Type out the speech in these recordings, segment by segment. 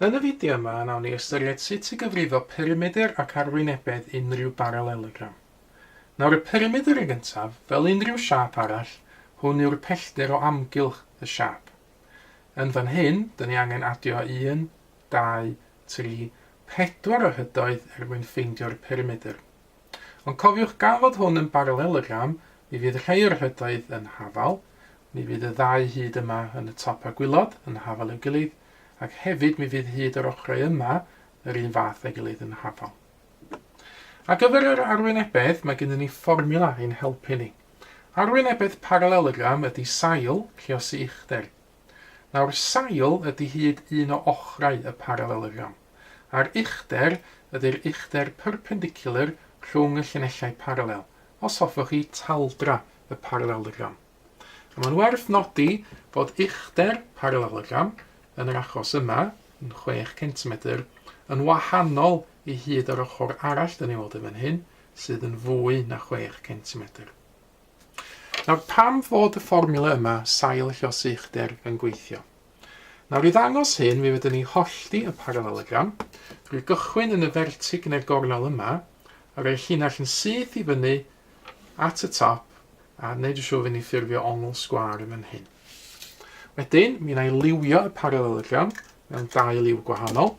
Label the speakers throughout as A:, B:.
A: Yn y fideo yma, nawn ni ystyried sut i gyfrifo perimedr ac arwynebedd unrhyw baralelogram. Nawr y perimedr yn gyntaf, fel unrhyw siâp arall, hwn yw'r pellter o amgylch y siâp. Yn fan hyn, dyn ni angen adio 1, 2, 3, 4 o hydoedd er mwyn ffeindio'r perimedr. Ond cofiwch gan fod hwn yn baralelogram, mi fydd rhai o'r rhedoedd yn hafal, mi fydd y ddau hyd yma yn y top a gwilod yn hafal i'w gilydd, ac hefyd mi fydd hyd yr ochrau yma yr un fath a'i gilydd yn hafal. Ar gyfer yr arwynebedd, mae gennym ni fformiwla i'n helpu ni. Arwynebedd paralelogram ydy sail, rhiosi uchder. Nawr, sail ydy hyd un o ochrau y paralelogram, a'r uchder ydy'r uchder perpendicular rhwng y llinellau paralel, os hoffech chi, taldra y paralelogram. A mae'n werth nodi fod uchder paralelogram, yn yr achos yma, yn 6 centimedr, yn wahanol i hyd yr ochr arall, dan ni'n weld yn fan hyn, sydd yn fwy na 6 centimedr. Nawr, pam fod y fformiwla yma sail llosi uchder yn gweithio? Nawr, i ddangos hyn, mi fydden ni'n hollti y paralelogram, drwy gychwyn yn y fertig neu'r gornel yma, a rhoi llinell yn syth i fyny at y top, a wneud yn siŵr fy ni ffurfio ongl sgwâr yn fan hyn. Wedyn, mi wna i liwio y paralelogram mewn dau liw gwahanol.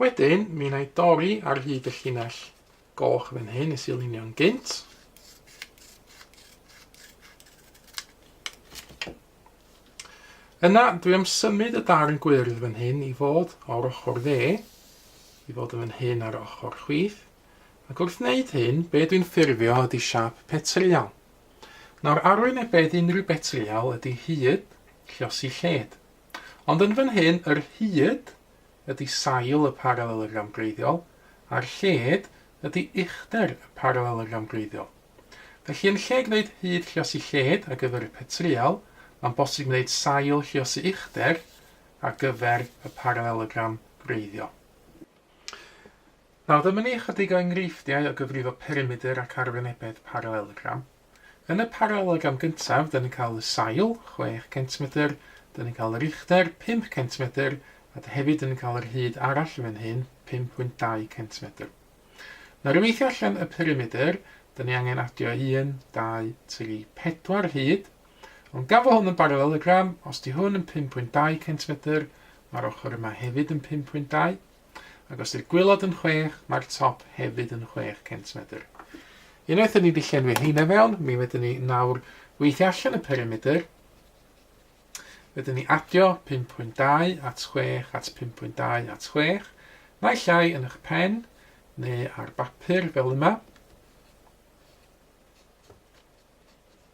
A: Wedyn, mi wna i dorri ar hyd y llinell goch fan hyn nes i lunio'n gynt. Yna, dwi am symud y darn gwyrdd fan hyn i fod o'r ochr dde, i fod yn fan hyn ar ochr chwith. Ac wrth wneud hyn, be dwi'n ffurfio ydi siâp petryal. Nawr, arwynebedd unrhyw betryal ydi hyd, llosi lled. Ond yn fan hyn, yr hyd ydi sail y paralelogram gwreiddiol, a'r lled ydi uchder y paralelogram gwreiddiol. Felly, yn lle gwneud hyd llosi lled ar gyfer y petryal, mae'n bosib gwneud sail llosi uchder ar gyfer y paralelogram gwreiddiol. Nawr dyma ni ychydig o enghreifftiau o gyfrifo perimedr ac arwynebedd paralelogram. Yn y paralelogram gyntaf, dyn ni'n cael y sail, chwech centimedr, dyn ni'n cael yr uchder, pump centimedr, a dy hefyd dyn ni'n cael yr hyd arall fan hyn, pum pwynt dau centimedr. Nawr i weithio allan y perimedr, dyn ni angen adio un, dau, tri, pedwar hyd, ond gan fo hwn yn baralelogram, os di hwn yn pum pwynt dau centimedr, Mae'r ochr yma hefyd yn 5.2, ac os ydy'r gwaelod yn 6, mae'r top hefyd yn 6 centimedr. Unwaith ydyn ni wedi llenwi heina fewn, mi wedyn ni nawr weithio allan y perimeter. Wedyn ni adio 5.2 at 6 at 5.2 at 6, naill ai yn eich pen neu ar bapur fel yma.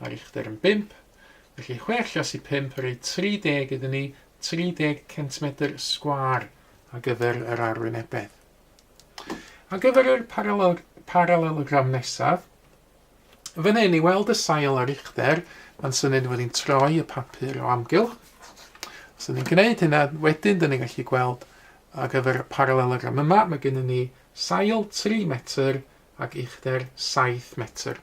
A: Mae'r uchder yn bump, felly chwe allas i phump, rhoi 30 iddyn ni, 30 centimedr sgwâr ar gyfer yr arwynebedd. Ar gyfer yr paralel, paralelogram nesaf, fan hyn i weld y sail a'r uchder, mae'n syniad fod ni'n troi y papur o amgylch. Os ydym ni'n gwneud hynna, wedyn dyn ni'n gallu gweld ar gyfer y paralelogram yma, mae gennym ni sail 3 metr ac uchder 7 metr.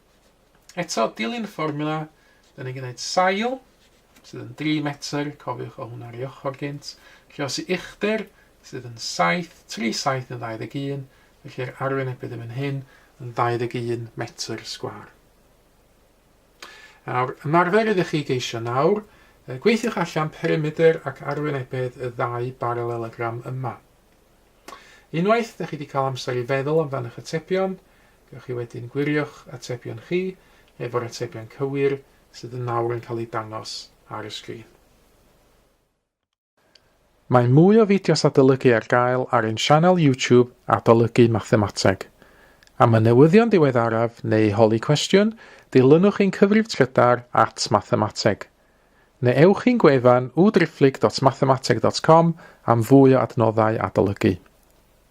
A: Eto, dilyn y fformiwla, da ni'n gwneud sail, sydd yn 3 metr, cofiwch o hwnna ar ei ochr gynt, llosi uchder, sydd yn 7, 3 7 yn 21, felly yr arwynebydd yn fan hyn yn 21 metr sgwar. Nawr, ymarfer ydych chi geisio nawr, gweithiwch allan perimeter ac arwynebedd y ddau baralelogram yma. Unwaith dych chi wedi cael amser i feddwl amdan eich atebion, gewch chi wedyn gwirio'ch atebion chi efo'r atebion cywir sydd yn nawr yn cael eu dangos ar y sgrin. Mae mwy o fideos adolygu ar gael ar ein sianel YouTube Adolygu Mathemateg. Am y newyddion diweddaraf neu holi cwestiwn, dilynwch ein cyfrif trydar at Mathemateg. Neu ewch i'n gwefan www.driphlyg.mathemateg.com am fwy o adnoddau adolygu.